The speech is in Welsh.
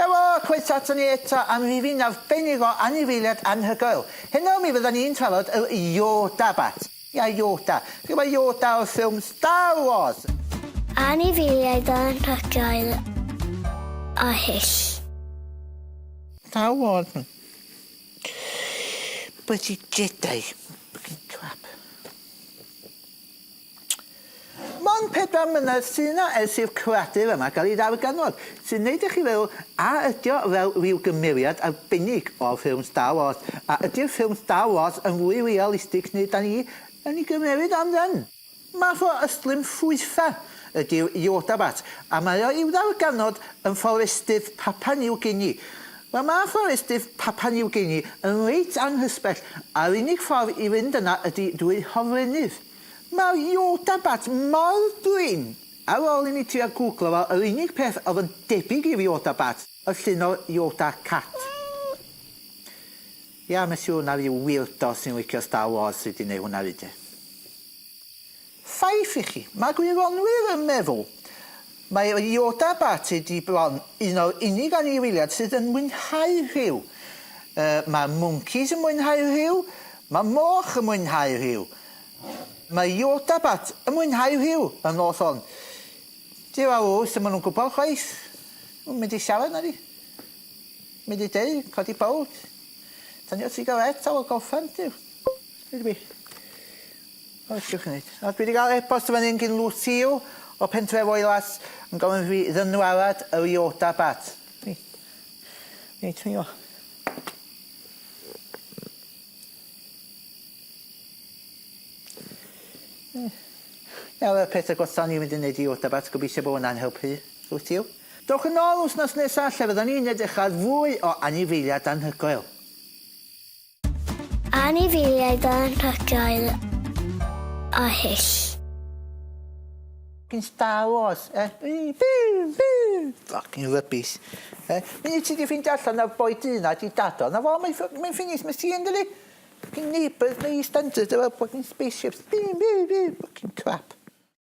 Helo, croeso aton ni eto am rifyn arbennig o anifeiliad anhygoel. Heno mi fyddan ni'n trafod yr Yoda Bat. Ia, Yoda. Chi'n gwybod Yoda o'r ffilm Star Wars? Anifeiliaid anhygoel a hyll. Star Wars. Bwyd i Jedi. Ffycin twat. Mond pedwar mlynedd sy' 'na ers i'r cradur yma gael ei ddarganfod, sy'n wneud i chi feddwl a ydi o fel ryw gymeriad arbennig o ffilm Star Wars, a ydi'r ffilm Star Wars yn fwy realistig neu 'dan ni yn ei gymeryd o'n dân? Math o ystlum ffwytha' ydi'r Yodabat, a mae o i'w ddarganfod yn fforestydd Papua New Guinea, Mae ma fforestydd Papua New Guinea yn reit anghysbell a'r unig ffordd i fynd yna ydi drwy hofrennydd. Mae'r Yodabat mor brin! Ar ôl i mi trio gwglo fo yr unig peth oedd yn debyg i'r Yodabat oedd llun o Yoda cat. Ia mes i hwnna ryw weirdo sy'n licio Star Wars sy di neu hwnna fyd de. Ffaith i chi, mae gwyronwyr yn meddwl mai Yoda Batt ydi bron un o'r unig anifeiliad sydd yn mwynhau rhyw. Yy, mae mwncis yn mwynhau rhyw, mae moch yn mwynhau rhyw. Mae Yoda Batt yn mwynhau rhyw y nos hon. Di farw, sdim yn nhw'n gwybod chwaith. Nhw'n mynd i siarad na fi. Mynd i dŷ, codi bowd, tynnu y sigaret ar ol gorffen, du. Dwi 'di by- O be' chi'n neud? O dwi 'di ga'l e-bost yn fan 'yn gin Lucio o Pentref Oelas yn gofyn i fi ddynwarad yr Iota bat. Fi. Reit fi o. Yy. Nawr y peth y gorffan ni mynd i neud i Iota bat gobeithio bo' wnna'n helpu Lucio. Dowch yn ôl wsnos nesa lle fyddan ni'n edrych ar fwy o anifeiliaid anhygoel. Anifeiliaid anhygoel a hyll. Ffycin Star Wars e? Ffycin rubbish e? Munud ti di ffindio allan na boi du na di dad o, na fo mae'n ffyc- mae'n ffinis ma' si ynddi? Ffycin neighbours ma' Eastenders efo ffycin spaceships. Ffycin crap.